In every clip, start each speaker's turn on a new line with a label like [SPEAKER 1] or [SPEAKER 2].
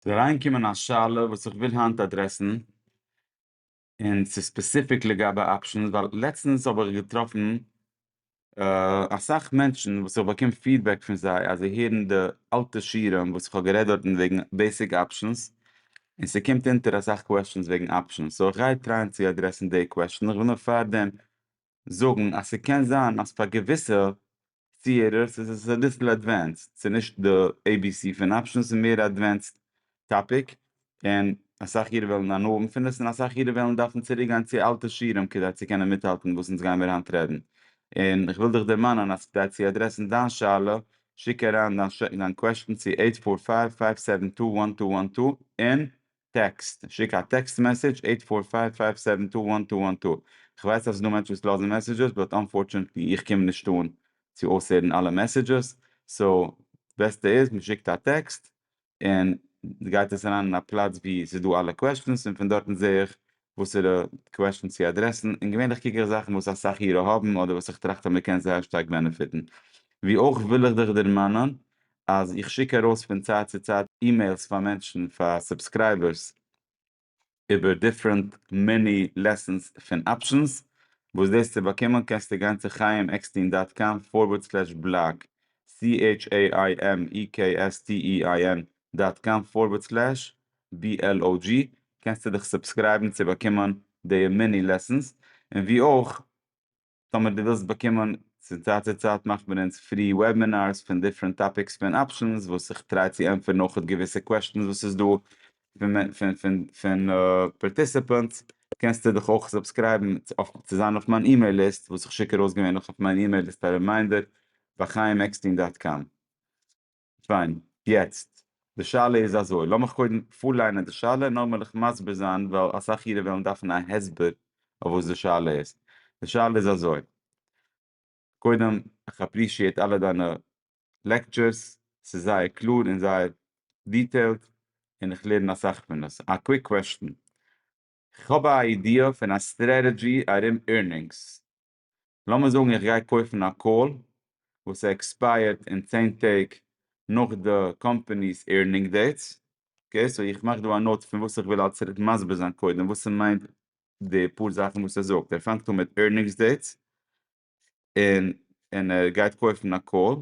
[SPEAKER 1] ס'איז אריינגעקומען א שאלה וואס איך וויל היינט אדרעסן, און ס'איז ספעסיפיק לגבי אפשענס, ווייל לעצטענס האב איך געטראפן אסאך מענטשן וואס איך באקום פידבעק פון זיי אז זיי הערן די אלטע שיעורים וואס איך האב גערעדט דארט וועגן בעיסיק אפשענס, און ס'קומט אונטער אסאך קוועשענס וועגן אפשענס, סאו איך גיי טרייען צו אדרעסן די קוועשען, איך וויל נאר פארדעם זאגן אז ס'קען זיין אז פאר געוויסע ציהערערס איז עס אביסל עדווענסד, ס'איז נישט די עי בי סי פון אפשענס ס'איז מער א עדווענסד טאפיק, און אסאך אירע וועלן הנאה פון עס און אסאך אירע וועלן דארפן צוריק גיין צו אלטע שיעורים כדי צו קענען מיטהאלטן וואס אונז גיימיר היינט רעדן, און איך וויל דיך דערמאנען אז כדי צו אדרעסן דיין שאלה שיק אריין דיין קוועשטן צו עיט פאר פייוו פייוו סעווען טו וואן טו וואן טו און טעקסט, שיק א טעקסט מעסעדזש עיט פאר פייוו פייוו סעווען טו וואן טו וואן טו. כ'ווייס אז ס'דא מענטשן וואס לאזן מעסעדזשעס באט אנפארטשענעטלי איך קום נישט אן צו אויסהערן אלע מעסעדזשעס סאו בעסטע איז מ'שיקט א טעקסט און גייט עס אריין אין א פלאץ ווי ס'איז דא אלע קוועשטענס און פון דארטן זעה איך וואסערע קוועשטענס צו אדרעסן, און געווענליך קוק איך זאכן וואס אסאך אירע האבן אדער וואס איך טראכט אז מען קען זייער שטארק בענעפיטן. ווי אויך וויל איך דיך דערמאנען אז איך שיק ארויס פון צייט צו צייט אימעילס פאר מענטשן, פאר סובסקרייבערס, איבער דיפרענט מיני לעסענס פון אפשענס, וואס דאס צו באקומען קענסטו גיין צו חיים עקסטין דאט קאם פארווערד סלעש בלאג, סי עיטש עי איי עם אי קעי עס טי אי איי ען דאט קאם פארווערד סלעש BLOG, קענסטו דיך סובסקרייבן צו באקומען די מיני לעסענס, און ווי אויך טאמער דו ווילסט באקומען, פון צייט צו צייט מאכט מען אונז פרי וועבינארס פון דיפרענט טאפיקס פון אפשענס וואס איך טריי צו ענטפערן אויך געוויסע קוועשטענס וואס איז דא פון פארטיסעפענטס, קענסטו דיך אויך סובסקרייבן צו זיין אויף מיין אימעיל ליסט וואס איך שיק ארויס געווענליך אויף מיין אימעיל ליסט א רימיינדער ביי חיים עקסטין דאט קאם. פיין, יעצט די שאלה איז אזוי, לאמיך קודם פארליינען די שאלה, נאר מעל איך מסביר זיין, ווייל אסאך אירע וועלן דארפן א הסבר אויף וואס די שאלה איז, די שאלה איז אזוי, קודם איך אפרישיעט אלע דיינע לעקטשערס, ס'איז זייער קלאר און זייער דיטעילד, און איך לערן אסאך פון עס, א קוויק קוועשטען, איך האב א איידיע פון א סטרעטעדזשי ארום עירנינגס, לאמיר זאגן איך גיי קויפן א קאל וואס ער עקספייערט אין צען טעג נאך די קאמפעני'ס עירנינג דעיטס, אקעי סאו איך מאך דא א נאוט פון וואס איך וויל אלס מסביר זיין קודם וואס ס'מיינט די פאר זאכן וואס ער זאגט, ער פאנגט אן מיט עירנינגס דעיטס און און ער גייט קויפן א קאל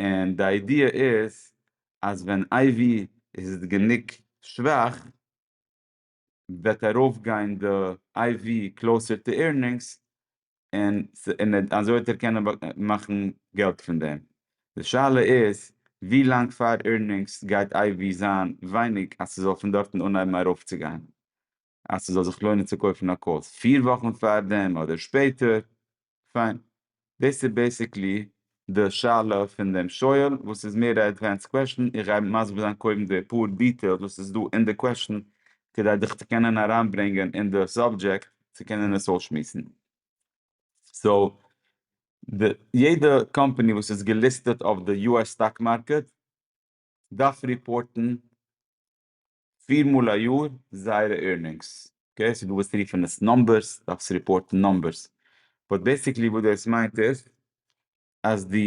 [SPEAKER 1] און די איידיע איז אז ווען אייווי איז גענוג שוואך וועט ארויף גיין די איי ווי קלאוסער טו עירנינגס און און אזוי וועט ער קענען מאכן געלט פון דעם. די שאלה איז ווי לאנג פאר עירנינגס גייט איי ווי זיין ווייניג אז ס'זאל פון דארטן אנהייבן ארויף צו גיין אז ס'זאל זיך לוינען צו קויפן א קאלס פֿיר וואכן פאר דעם אדער שפעטער. פיין. דאס איז בעסיקלי די שאלה פון דעם שואל וואס איז מער א עדווענסד קוועשאן, איך גיי מסביר זיין קודם די פאר דיטעילס וואס איז דא אין די קוועשאן כדי דיך צו קענען אריינברענגען אין די סאבדזשעקט צו קענען עס אויסשמועסן. סאו, די יעדע קאמפאני וואס איז געליסטעט אויף די יו עס סטאק מארקעט דארף ריפארטן פיר מאל א יאר זייערע עירנינגס, אקעי, סאו דו ווילסט רופן עס נאמבערס, דארפסט ריפארטן נאמבערס, באט בעסיקלי וואס דאס מיינט איז אז דו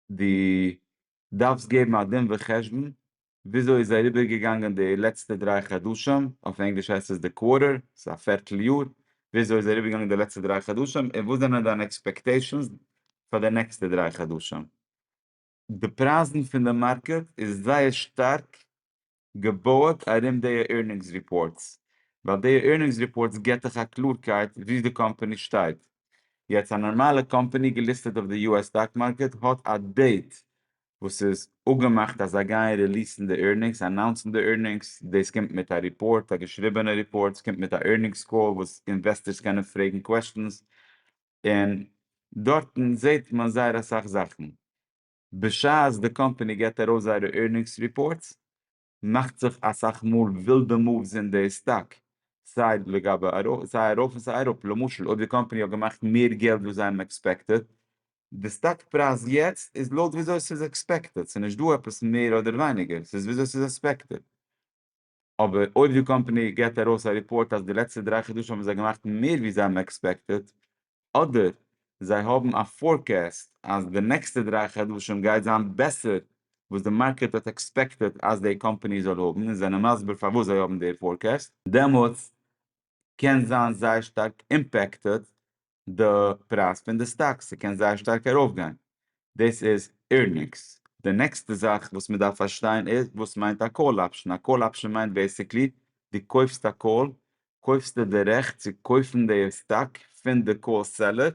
[SPEAKER 1] דו דארפסט געבן א דין וחשבון וויאזוי איז אריבער געגאנגען די לעצטע דריי חדשים, אויף ענגליש הייסט עס די קווארטער, ס'איז א פערטל יאר, וויאזוי איז אריבער געגאנגען די לעצטע דריי חדשים, און וואס זענען דיינע עקספעקטעישאנס פאר די נעקסטע דריי חדשים. די פרייזן פון די מארקעט איז זייער שטארק געבויעט ארום די עירנינגס ריפארטס, ווייל די עירנינגס ריפארטס גיבט דיך א קלארקייט וואו די קאמפאני שטייט. יעצט א נארמאלע קאמפאני געליסטעט אויף די יו עס סטאק מארקעט האט א דעיט וואס איז אפגעמאכט אז זיי גייען ריליסן די עירנינגס, אנאונסן די עירנינגס, דאס קומט מיט א ריפארט, א געשריבענע ריפארט, ס'קומט מיט א עירנינגס קאל וואס אינוועסטערס קענען פרעגן קוועסטשענס, און דארטן זעהט מען זייער אסאך זאכן, בשעת די קאמפאני געבט ארויס זייערע עירנינגס ריפארטס, מאכט זיך אסאך מאל ווילדע מאווס אין די סטאק, סיי לגבי ארויף, סיי ארויף און סיי אראפ, למשל אויב די קאמפאני האט געמאכט מער געלט ווי זיי האבן עקספעקטעט, די סטאק פרייז יעצט איז לויט וויאזוי ס'איז עקספעקטעט, ס'איז נישט דא עפעס מער אדער ווייניגער, ס'איז וויאזוי ס'איז עספעקטעט. אבער אויב די קאמפאני געט ארויס א ריפארט אז די לעצטע דריי חדשים האבן זיי געמאכט מער ווי זיי האבן עקספעקטעד, אדער זיי האבן א פארקעסט אז די נעקסטע דריי חדשים גייט זיין בעסער וואס די מארקעט האט עקספעקטעד אז די קאמפאני זאל האבן און זענען מסביר פארוואס זיי האבן די פארקעסט, דעמאלטס קען זיין זייער שטארק אימפעקטעד די פרייז פון די סטאקס, ס'קען זייער שטארק ארויפגיין, דאס איז עירנינגס. די נעקסטע זאך וואס מען דארף פארשטיין איז וואס מיינט א קאל אפשן, א קאל אפשן מיינט בעיסיקלי דו קויפסט א קאל, קויפסטו די רעכט צו קויפן די סטאק פון די קאל סעלער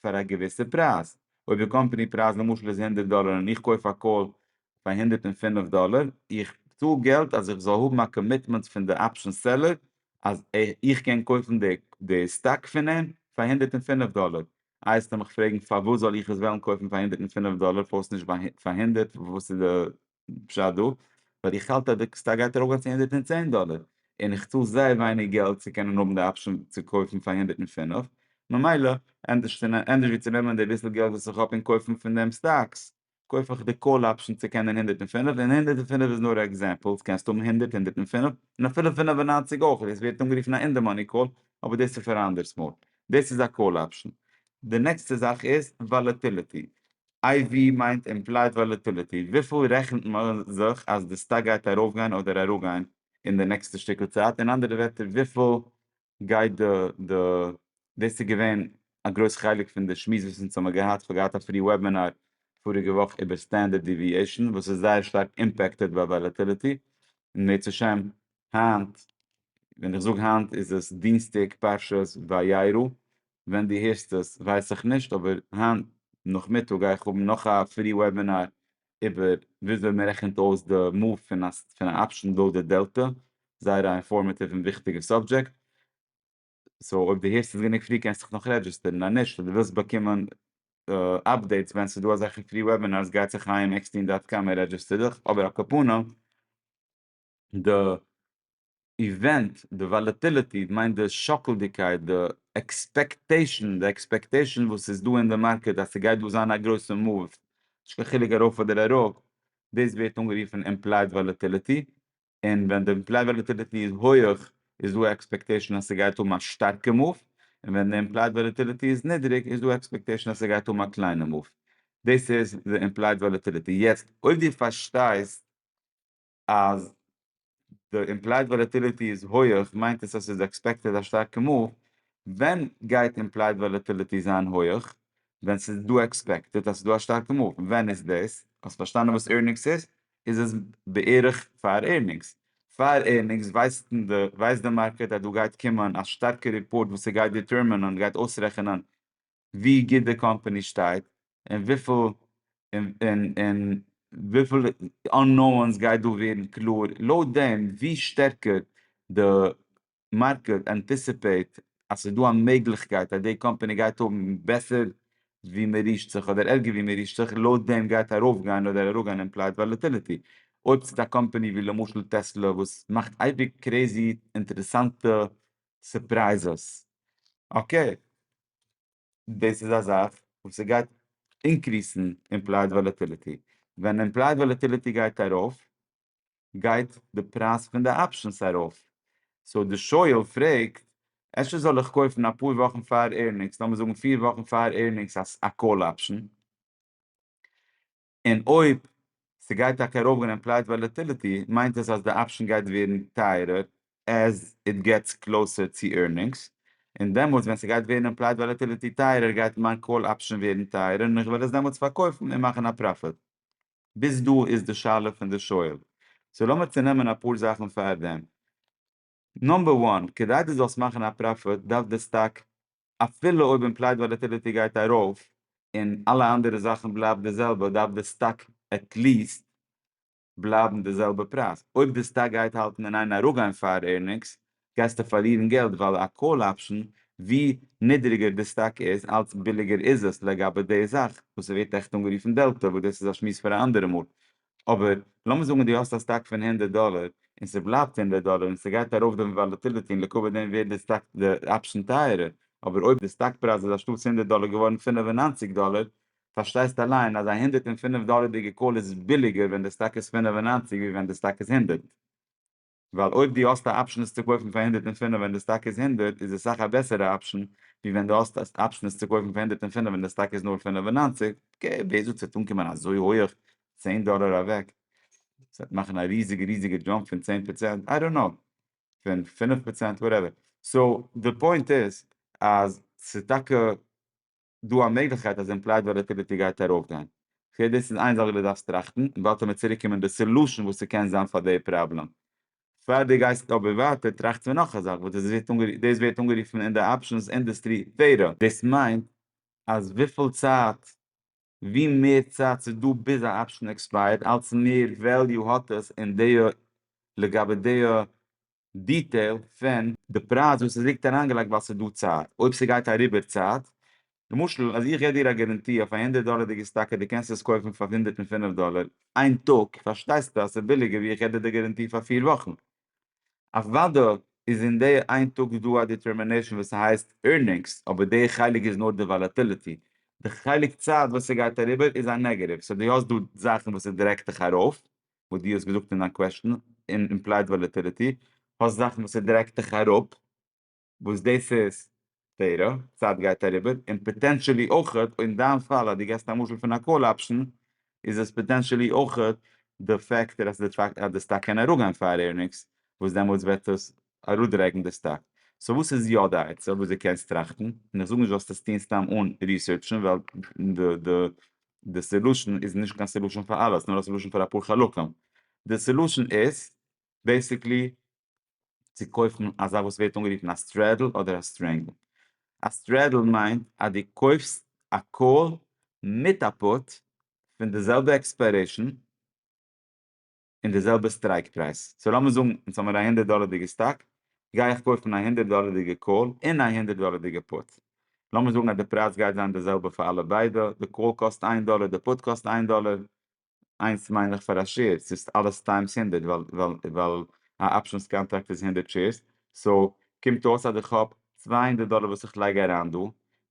[SPEAKER 1] פאר א געוויסע פרייז, אויב די קאמפאני פרייז למשל איז הונדערט דאלער און איך קויף א קאל פאר הונדערט און פֿינף דאלער, איך צאל געלט אז איך זאל האבן א קאמיטמענט פון די אפשן סעלער אז איך קען קויפן די סטאק פון אים פאר הונדערט און פֿינף דאלער, אייזטו מיך פרעגן פארוואס זאל איך עס וועלן קויפן פאר הונדערט און פֿינף דאלער פארט נישט פאר הונדערט וואס איז די פשט דא? ווייל איך האלט אז די סטאק גייט ארויפגיין צו הונדערט און צען דאלער און איך צאל זייער ווייניג געלט צו קענען האבן די אפשען צו קויפן פאר הונדערט און פֿינף ממילא ענדערש ווי צו נעמען די ביסל געלט וואס איך האב און קויפן פון דעם סטאקס קויף איך די קאל אפשען צו קענען הונדערט און פֿינף, און הונדערט און פֿינף איז נאר א עקזעמפעל, עס קענסט האבן הונדערט, הונדערט און פֿינף, און אפילו פֿינף און נײַנציק אויך, דאס ווערט אנגערופן א אין די מאני קאל, אבער דאס איז פאר א אנדערס מאל, דאס איז א קאל אפשען. די נעקסטע זאך איז וואלעטיליטי, איי ווי מיינט אימפלייד וואלעטיליטי, וויפיל רעכנט מען זיך אז די סטאק גייט ארויפגיין אדער אראפגיין אין די נעקסטע שטיקל צייט, אין אנדערע ווערטער וויפיל גייט די די דאס איז געווען א גרויס חלק פון די שמועס וואס אונז האמיר געהאט, כ'האב געהאט א פרי וועבינאר פאריגע וואך איבער סטענדערט דיוויעישאן וואס איז זייער שטארק אימפעקטעד ביי וואלעטיליטי, און בעזהשי ת היינט, ווען איך זאג היינט איז עס דינסטאג פרשת וירא, ווען דו הערסט עס ווייס איך נישט, אבער היינט נאכמיטאג גיי איך האבן נאך א פרי וועבינאר איבער וויאזוי מען רעכנט אויס די מאוו פון א אפשן לויט די דעלטע, זייער א אינפארמעטיוו און וויכטיגע סאבדזשעקט. סאו אויב די הערסט עס גענוג פרי קענסט דיך נאך רעדזשיסטערן, און נישט און די ווילסט באקומען אפדעיטס ווען ס'דא אזעלכע פרי וועבינארס גיי צו חיים עקסטין דאט קאם און רעדזשיסטער דיך, אבער על כפנים. די איווענט, די וואלעטיליטי, כ'מיין די שאקלדיגקייט, די עקספעקטעישן, די עקספעקטעישן וואס איז דא אין די מארקעט אז ס'גייט דא זיין א גרויסע מאוו, נישט קיין חילוק ארויף אדער אראפ, דאס ווערט אנגערופן אימפלייד וואלעטיליטי, און ווען די אימפלייד וואלעטיליטי איז הויעך איז דא א עקספעקטעישן אז ס'גייט האבן א שטארקע מאוו, און ווען די אימפלייד וואלעטיליטי איז נידריג איז דא עקספעקטעישן אז ס'גייט האבן א קליינע מאוו, דאס איז די אימפלייד וואלעטיליטי, יעצט אויב דו פארשטייסט אז די אימפלייד וואלעטיליטי איז הויעך מיינט עס אז ס'איז עקספעקטעד א שטארקע מאוו, ווען גייט אימפלייד וואלעטיליטי זיין הויעך? ווען ס'איז דא עקספעקטעד אז ס'איז דא א שטארקע מאוו, ווען איז דאס? האסט פארשטאנען וואס עירנינגס איז? איז עס בערך פאר עירנינגס. פאר עירנינגס ווייסט די מארקעט אז דא גייט קומען א שטארקע ריפארט וואס ס'גייט דיטערמינען, גייט אויסרעכענען ווי גוט די קאמפאני שטייט און וויפיל און און וויפיל אננאונס גייט דא ווערן קלאר לויט דעם ווי שטערקער די מארקעט ענטיסיפעיט אז ס'איז דא א מעגליכקייט אז די קאמפאני גייט האבן בעסער ווי מען רישט זיך אדער ערגער ווי מען רישט זיך לויט דעם גייט ארויף גיין אדער אראפ גיין אימפלייד וואלעטיליטי. אויב ס'איז א קאמפאני ווי למשל טעסלא וואס מאכט אייביג קרעזי אינטערעסאנטע סורפרייזעס, אקעי, דאס איז א זאך וואס ס'גייט אינקריסן אימפלייד וואלעטיליטי, ווען אימפלייד וואלעטיליטי גייט ארויף גייט די פרייז פון די אפשענס ארויף, סאו די שואל פרעגט, אפשר זאל איך קויפן אפאר וואכן פאר עירנינגס, לאמיר זאגן פיר וואכן פאר עירנינגס א קאל אפשען? און אויב ס'גייט טאקע ארויפגיין פרייז וואלעטיליטי מיינט עס אז די אפשען גייט ווערן טייערער עז איט געטס קלאוסער צו עירנינגס, און דעמאלטס ווען ס'גייט ווערן אין פרייז וואלעטיליטי טייערער גייט מיין קאל אפשען ווערן טייערער און איך וועל עס דעמאלטס פארקויפן און מאכן א פראפיט. ביז דא איז די שאלה פון די שואל. סאו לאמיר צונעמען אפאר זאכן פאר דעם. נאמבער וואן, כדי דו זאלסט מאכן א פראפיט דארף די סטאק אפילו אויב אימפלייד וואלעטיליטי גייט ארויף און אלע אנדערע זאכן בלייבט די זעלבע דארף די סטאק עטליעסט בלייבן די זעלבע פרייז, אויב די סטאק גייט האלטן אין איין אראפגיין פאר עירנינגס גייסטו פארלירן געלט ווייל א קאל אפשן ווי נידריגער די סטאק איז אלץ ביליגער איז עס לגבי די זאך וואס ס'ווערט עכט אנגערופן דעלטא וואס דאס איז א שמועס פאר א אנדערע מאל אבער לאמיר זאגן דו האסט א סטאק פון הונדערט דאלער און ס'בלייבט הונדערט דאלער און ס'גייט ארויף די וואלעטיליטי און לקבע דעם ווערט די סטאק די אפשען טייערער אבער אויב די סטאק פרייז איז אנשטאטס הונדערט דאלער געווארן פֿינף און נײַנציק דאלער פארשטייסט אליין אז א הונדערט און פֿינף דאלערדיגע קאל איז ביליגער ווען די סטאק איז פֿינף און נײַנציק ווי ווען די סטאק איז הונדערט. ווייל אויב דו האסט א אפשן עס צו קויפן פאר הונדערט און פֿינף ווען די סטאק איז הונדערט איז עס סאך א בעסערע אפשן ווי ווען דו האסט א אפשן עס צו קויפן פאר הונדערט און פֿינף ווען די סטאק איז נאר פֿינף און נײַנציק ק ווער זאגט ס'וועט אנקומען אזוי הויעך צען דאלער אוועק ס'וועט מאכן א ריזיגע ריזיגע דזשאמפ פון צען פראצענט איי דאנט קנאו פון פֿינף פראצענט וואטעווער סאו די פוינט איז אז ס'איז טאקע. דא א מעגליכקייט אז עמפלאיד וואלעטיליטי גייט ארויפגיין? כ'זע דאס איז איין זאך וואס דו דארפסט טראכטן, און באלד וועל מיר צוריק קומען די סעלושען וואס ס'קען זיין פאר די פראבלעם. פאר דו גייסט אבער ווייטער טראכטס פון נאך א זאך וואס דאס ווערט אנגערופן אין די אפשענס אינדוסטרי ווערע. דאס מיינט אז וויפיל צייט ווי מער צייט ס'איז דא ביז א אפשען עקספייערט אלץ מער וועליו האט עס און דעיע לגבי דעיע דיטעיל פון די פרייז וואס עס ליגט אריינגעלייגט ווייל ס'איז דא צייט אויב ס'גייט אריבער צייט למשל אז איך געב דיר א גאראנטי אויף א הונדערט דאלערדיגע סטאקע דו קענסט עס קויפן פאר הונדערט און פֿינף דאלער איין טאג פארשטייסטו אז ס'איז ביליגער ווי איך געב דיר די גאראנטי פאר פֿיר וואכן אוודא איז אין די איין טאג דא א דיטערמינעישאן וואס ס'הייסט עירנינגס אבער די חלק איז נאר די וואלאטיליטי די חלק צייט וואס ס'גייט אריבער איז א נעגעטיוו סאו דו האסט דא זאכן וואס איז דירעקט דיך ארויף וואס דו האסט געזאגט אין דיין קוועשטען, אין אימפלייד וואלעטילעטי, האסט זאכן וואס ס'דרעגט דיך אראפ, וואס דאס איז תורה, צייט גייט אריבער, און פאטענטשעלי אויך אין דיין פאל אז דו געסט א משל פון א קאל אפשען, איז עס פאטענטשעלי אויך די פעקטער אז די סטאק קען אראפגיין פאר ארנינגס, וואס דעמאלטס וועט עס אראפדרעגן די סטאק. סאו וואס איז יא די עצה וואס דו קענסט טראכטן? און איך זאג נישט זאלסט עס טון סתם אן ריסערטשן ווייל די סעלושען איז נישט קיין סעלושען פאר אלעס נאר א סעלושען פאר אפאר חלקים. די סעלושען איז בעיסיקלי צו קויפן א זאך וואס ווערט אנגערופן א סטרעדל אדער א סטרענגל. א סטרעדל מיינט אז דו קויפסט א קאל מיט א פוט פון די זעלבע עקספיירעישן. און די זעלבע סטרייק פרייז. סאו לאמיר זאגן יעצט האמיר א הונדערט דאלערדיגע סטאק, גיי איך קויפן א הונדערט דאלערדיגע קאל און א הונדערט דאלערדיגע פוט. לאמיר זאגן אז די פרייז גייט זיין די זעלבע פאר אלע ביידע, די קאל קאסט איין דאלער די פוט קאסט איין דאלער, איינס מיין איך פאר א שעיר, ס'איז אלעס טיימס הונדערט ווייל א אפשענס קאנטראקט איז הונדערט שעירס, סאו קומט אויס אז איך האב צוויי הונדערט דאלער וואס איך לייג אריין דא,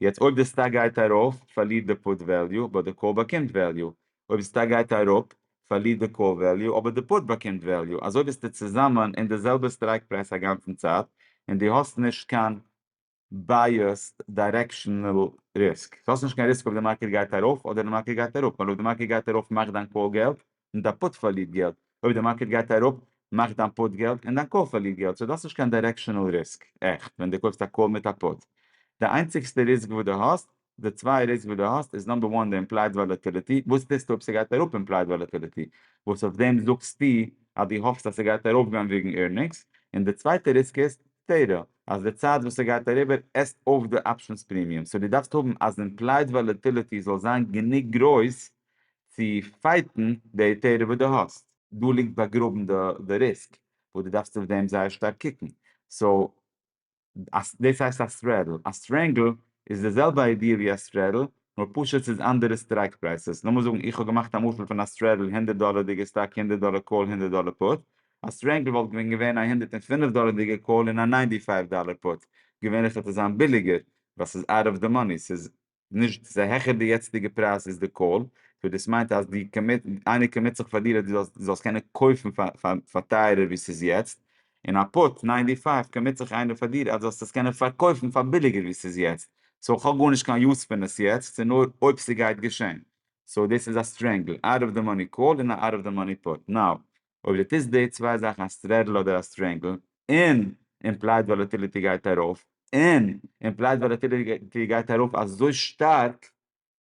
[SPEAKER 1] יעצט אויב די סטאק גייט ארויף פארלירט די פוט וועליו באט די קאל באקומט וועליו, אויב די סטאק גייט אראפ פארלירט די קאל וועליו אבער די פוט באקומט וועליו אזוי ביסטו צוזאמען אין די זעלבע סטרייק פרייז א גאנצן צייט און די האסט נישט קיין בייעסד דיירעקשענעל ריסק, האסט נישט קיין ריסק אויב די מארקעט גייט ארויף אדער די מארקעט גייט אראפ ווייל אויב די מארקעט גייט ארויף מאכט דיין קאל געלט און דיין פוט פארלירט געלט אויב די מארקעט גייט אראפ מאכט דיין פוט געלט און דיין קאל פארלירט געלט סאו די האסט נישט קיין דיירעקשענעל ריסק עכפ ווען די קויפסט א קאל מיט א פוט די איינציגסטע ריסק וואס די האסט די צוויי ריסק וואס דו האסט איז נאמבער וואן די אימפלייד וואלעטעליטי, וואס טוסטו אויב ס'גייט אראפ אימפלייד וואלעטעליטי, וואס אויף דעם זאגסטו אז דו האפסט אז ס'גייט ארויפגיין וועגן עירנינגס, און די צווייטע ריסק איז טעיטל, אז די צייט וואס ס'גייט אריבער עסט אויף די אפשענס פרימיום, סאו דו דארפסט האבן אז אימפלייד וואלעטעליטי זאל זיין גענוג גרויס צו פייטן די טעיטל וואס דו האסט, דא ליגט באגראבן די ריסק וואס דו דארפסט אויף דעם זייער שטארק קוקן, סאו. דאס הייסט א סטרעדל. א סטרענגל איז די זעלבע איידיע ווי א סטרעדל, נאר פשוט ס'איז אנדערע סטרייק פרייסעס. לאמיר זאגן איך האב געמאכט א משל פון א סטרעדל הונדערט דאלערדיגע סטאק הונדערט דאלער קאל הונדערט דאלער פוט. א סטרענגל וואלט ווען געווען א הונדערט און פֿינף דאלערדיגע קאל און א ניינטי פייוו דאלער פוט. געווענליך וועט עס זיין ביליגער ווייל ס'איז אוט אוו די מאני. ס'איז נישט ס'איז העכער די יעצטיגע פרייז איז די קאל, סאו דאס מיינט אז די קאמיט איינער קאמיט זיך פאר דיר אז דו זאלסט קענען קויפן פאר טייערער ווי ס'איז יעצט, און א פוט ניינטי פייוו קאמיט זיך איינער פאר דיר אז דו זאלסט עס קענען פארקויפן פאר ביליגער ווי ס'איז יעצט, סאו כ'האב גארנישט קיין יוז פון עס יעצט, ס'איז נאר אויב ס'גייט געשען, סאו דאס איז א סטרענגל, אוט אוו די מאני קאל און א אוט אוו די מאני פוט, נאו. אויב דו טוסט די צוויי זאכן א סטרעדל אדער א סטרענגל און אימפלייד וואלעטיליטי גייט ארויף און אימפלייד וואלעטיליטי גייט ארויף אזוי שטארק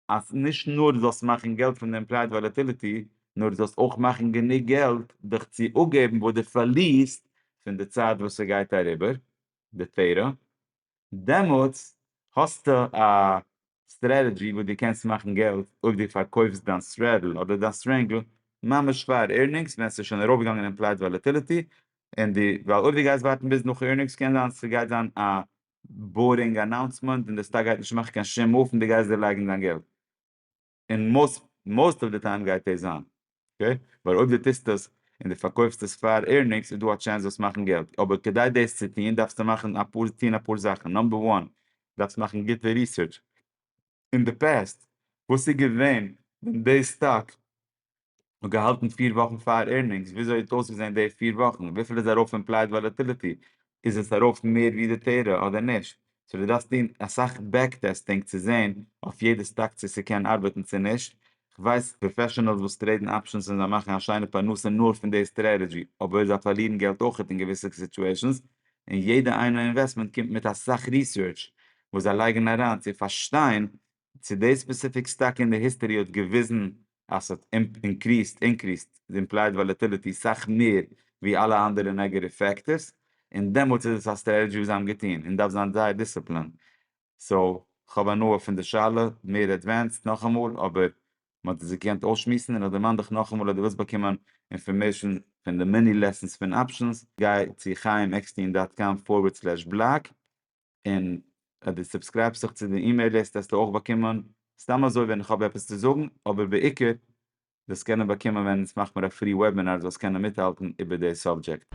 [SPEAKER 1] אז נישט נאר דו זאלסט מאכן געלט פון די אימפלייד וואלעטיליטי נאר דו זאלסט אויך מאכן גענוג געלט דיך צו אפגעבן וואס דו פארלירסט פון די צייט וואס ס'גייט אריבער די תירא דעמאלטס האסטו א סטרעטעדזשי וואס דו קענסט מאכן געלט אויב דו פארקויפסט דיין סטרעדל אדער דיין סטרענגל ממש פאר עירנינגס ווען ס'איז שוין ארויפגעגאנגען אין פלייט וואלעטיליטי און די ווייל אויב דו גייסט ווארטן ביז נאך עירנינגס קען זיין ס'גייט זיין א בארינג אנאונסמענט און די סטאק גייט נישט מאכן קיין שום מוף און דו גייסט דערלייגן דיין געלט. און מאסט מאסט אוו די טיים גייט דאס זיין, אקעי? ווייל אויב דו טוסט עס און דו פארקויפסט עס פאר עירנינגס איז דא א טשענס וועסט מאכן געלט, אבער כדי דאס צו טון דארפסטו מאכן אפאר טון אפאר זאכן, נאמבער וואן דארפסט מאכן גוטע ריסערטש אין די פעסט וואס איז געווען ווען די סטאק און געהאלטן פֿיר וואכן פאר עירנינגס, וויאזוי האט אויסגעזען די פֿיר וואכן? וויפיל איז ארויף אימפלייד וואלעטיליטי? איז עס ארויף מער ווי די תורה אדער נישט? סאו דו דארפסט טון אסאך בעק טעסטינג צו זען אויף יעדע סטאק צו ס'קען ארבעטן צו נישט, כ'ווייס פראפעשענעלס וואס טרעידן אפשענס און זיי מאכן א שיינע פרנסה נאר פון די סטרעטעדזשי, אבער זיי פארלירן געלט אויכעט אין געוויסע סיטועשענס, און יעדע איינע אינוועסטמענט קומט מיט אסאך ריסערטש וואס זיי לייגן אריין צו פארשטיין צו די ספעסיפיק סטאק אין די היסטערי האט געוויזן אז ס'האט אינקריסט אינקריסט די אימפלייד וואלעטיליטי סאך מער ווי אלע אנדערע נעגעטיוו פעקטערס און דעמאלטס איז עס א סטרעטעדזשי וואס זיי האבן געטון און דארף זיין זייער דיסציפלין סאו כ'האב הנאה פון די שאלה מער עדווענסד נאכאמאל אבער מ'האט עס געקענט אויסשמועסן און איך דערמאן דיך נאכאמאל אז דו ווילסט באקומען אינפארמעישן פון די מיני לעסענס פון אפשענס גיי צו חייםעקסטין דאט קאם פארווערד סלעש בלאג. און אז דו סובסקרייבסט זיך צו די אימעיל ליסט וועסטו אויך באקומען סתם אזוי ווען איך האב עפעס צו זאגן, אבער בעיקר וועסט קענען באקומען ווען אונז מאך מיר א פרי וועבינאר זאלסט קענען מיטהאלטן איבער די סאבדזשעקט.